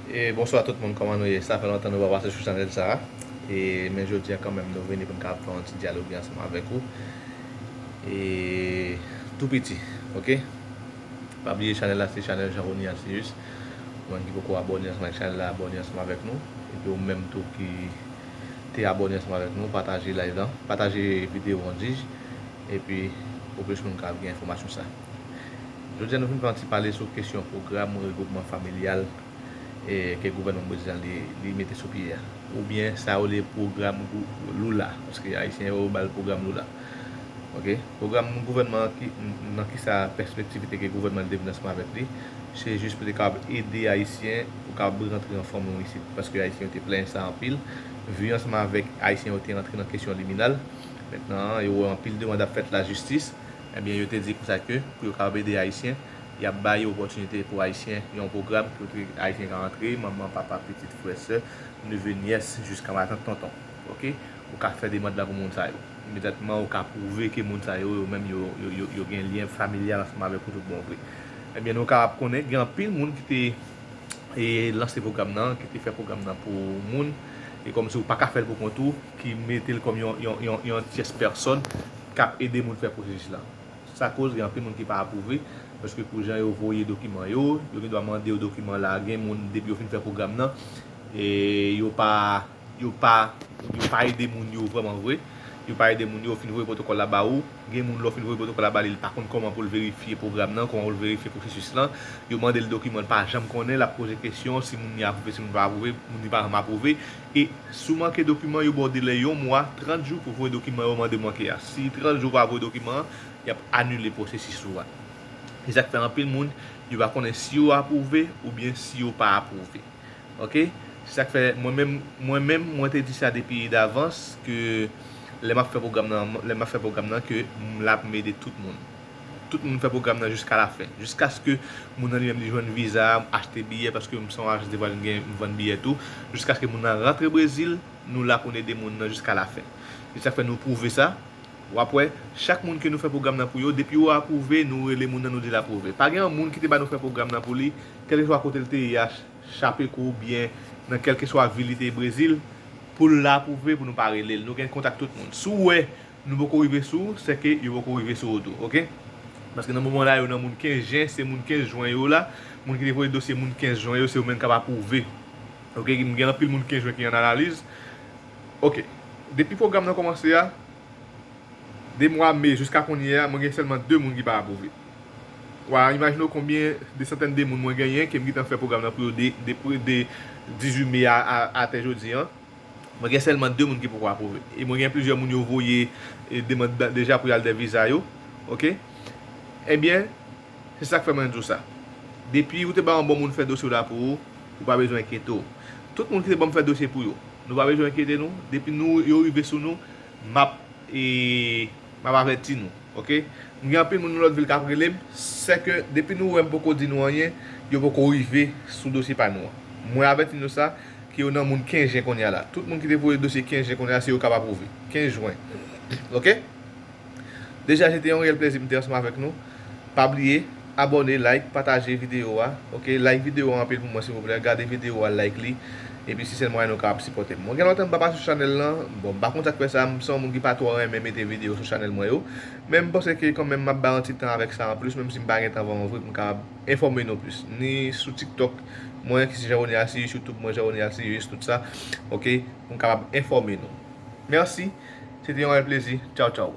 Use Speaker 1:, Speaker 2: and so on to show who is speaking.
Speaker 1: Bonswa tout moun kòman nou ye sa fè lontan nou pa pase sou chanèl sa e men jodi an kanmèm nou vini pou nou kapab fè yon ti dyaloge ansanm avèk ou e tou piti ok pa bliye chanèl la se chanèl Jean Rony Ancius ou menm ki poko abòne ansanm avèk chanèl la abòne ansanm avèk nou epi ou menm tou ki te abòne ansanm avèk nou pataje live lan pataje video an dij epi pou plis moun kapab gen enfòmasyon sa. Jodi a nou vin fè yon ti pale sou kesyon pwogram regwoupman familyal ke gouvènman Brezil an li mete sou pye a ou byen sa yo rele pwogram Lula paske ayisyen yo ba l pwogram Lula ok pwogram gouvènman an ki nan kisa pèspektivite ke gouvènman an te vin ansanm avèk li se jis pou te kapab ede ayisyen pou kapab rantre an fòm nou isit paske ayisyen yo te plenyen sa anpil vi ansanm avèk ayisyen yo te rantre nan kesyon liminal mentnan an yo wè anpil demand ap fèt lajistis. Ebyen yo te di konsa ke pou yo kapab ede Ayisyen, y ap ba yo opòtinite pou Ayisyen, yon pwogram kote Ayisyen ka antre, manman, papa, pitit, frè, sè, neve, nyès, jiska matant, tonton. Ok. Ou ka fè demand la pou moun sa yo. Imedyatman ou ka pwouve ke moun sa yo, yo menm yo, yo, yo gen lyen familyal ansanm avèk ou tout bon vre. Ebyen nou kapab konnen gen anpil moun ki te lanse pwogram nan, ki te fè pwogram nan pou moun, e kòmsi ou pa ka fè l pou kont ou, ki mete l kòm yon tyès pèsòn k ap ede moun fè pwosesis la. Sa koz gen anpil moun ki pa apwouve, paske pou jan yo voye dokiman yo, yo gen dwa mande yo dokiman la, gen moun depi yo fin fè pwogram nan, yo pa yo pa yo pa ede moun yo vrèman vre, yo pa ede moun yo, ou fin voye pwotokòl la ba ou, gen moun lè w fin voye pwotokòl la ba li, li pa konn kòman pou l verifye pwogram nan, kòman pou l verifye pwosesis lan, yo mande l dokiman li pa janm konnen, l ap poze kesyon si moun ni apwouve, si moun pa apwouve, moun ni pa janm apwouve. E si w manke dokiman, yo ba w delè yon mwa, 30 jou, pou voye dokiman yo mande manke a. Si 30 jou ou pa voye dokiman an, y ap anile pwosesis ou a. E sa k fè anpil moun, yo pa konnen si yo apwouve oubyen si yo pa apwouve. Ok. Se sa k fè mwen menm, mwen menm, mwen te di sa depi davans ke lè m ap fè pwogram nan, lè m ap fè pwogram nan ke m la pou m ede tout moun. Tout moun fè pwogram nan jiska la fen. Jiskaske moun nan li menm li jwenn viza a, achte biyè paske m se yon ajans de vwayaj m gen m vann biyè tou. Jiskaske moun nan rantre Brezil, nou la pou n ede moun nan jiska la fen. Se sa k fè nou pwouve sa. W ap wè, chak moun ke nou fè pwogram nan pou yo, depi yo apwouve, nou rele moun nan nou di l apwouve. Pa gen yon moun ki te ba nou fè pwogram nan pou li, kèlkeswa kote l te ye a, Chapeco ou byen nan kèlkeswa vil li te ye Brezil, pou l apwouve pou nou pa rele l. Nou gen kontak tout moun. Si w wè. Nou poko rive sou ou sè ke yo poko rive sou ou tou ok paske nan moman la yo nan moun 15 jen se moun 15 jwen yo la moun ki te voye dosye moun 15 jwen yo se yo menm kap aprouve ok m gen anpil moun 15 jwen ki an analiz ok depi pwogram nan komanse a de mwa me jiska konnye a mwen gen sèlman 2 moun ki pa aprouve wa imajine w konbyen de santèn de moun mwen genyen ke m gentan fè pwogram nan pou yo de 18 me a atè jodi an. Mwen gen sèlman 2 moun ki poko apwouve e mwen gen plizyè moun yo voye demand deja pou yal dè viza yo ok ebyen se sak fè mwen di w sa depi ou te bay yon bon moun fè dosye w la pou ou ou pa bezwen enkyete w tout moun ki te banm fè dosye pou yo nou pa bezwen enkyete nou depi nou yo rive sou nou map e. Map avèti nou ok m gen anpil moun nan lòt vil kap relem sèke depi nou wèm poko di nou anyen yo poko rive sou dosye pa nou an mwen avèti nou sa ke yo nan moun 15 jen konnya la tout moun ki te voye dosye 15 jen konnya se yo kap apwouve 15 jwen ok deja se te yon reyèl plèzi m te ansanm avèk nou pa bliye Abòne like pataje video a ok like video an anpil pou mwen silvouplè gade video a like li epi se sèl mwayen nou kapab sipòtem mwen gen lontan m pa pase sou chanèl lan bon m pa konn sak fè sa m se yon moun ki pa twò renmen mete video sou chanèl mwen yo men m panse ke kanmenm map bay yon ti tan avèk sa anplis menm si m pa gen tan vrèman vre pou m kapab enfòme nou plis ni sou tiktok mwen ki se Jeanrony Arceus youtube mwen Jeanrony Arceus tout sa ok pou m kapab enfòme nou mèsi se te yon rèl plezi tchawtchaw.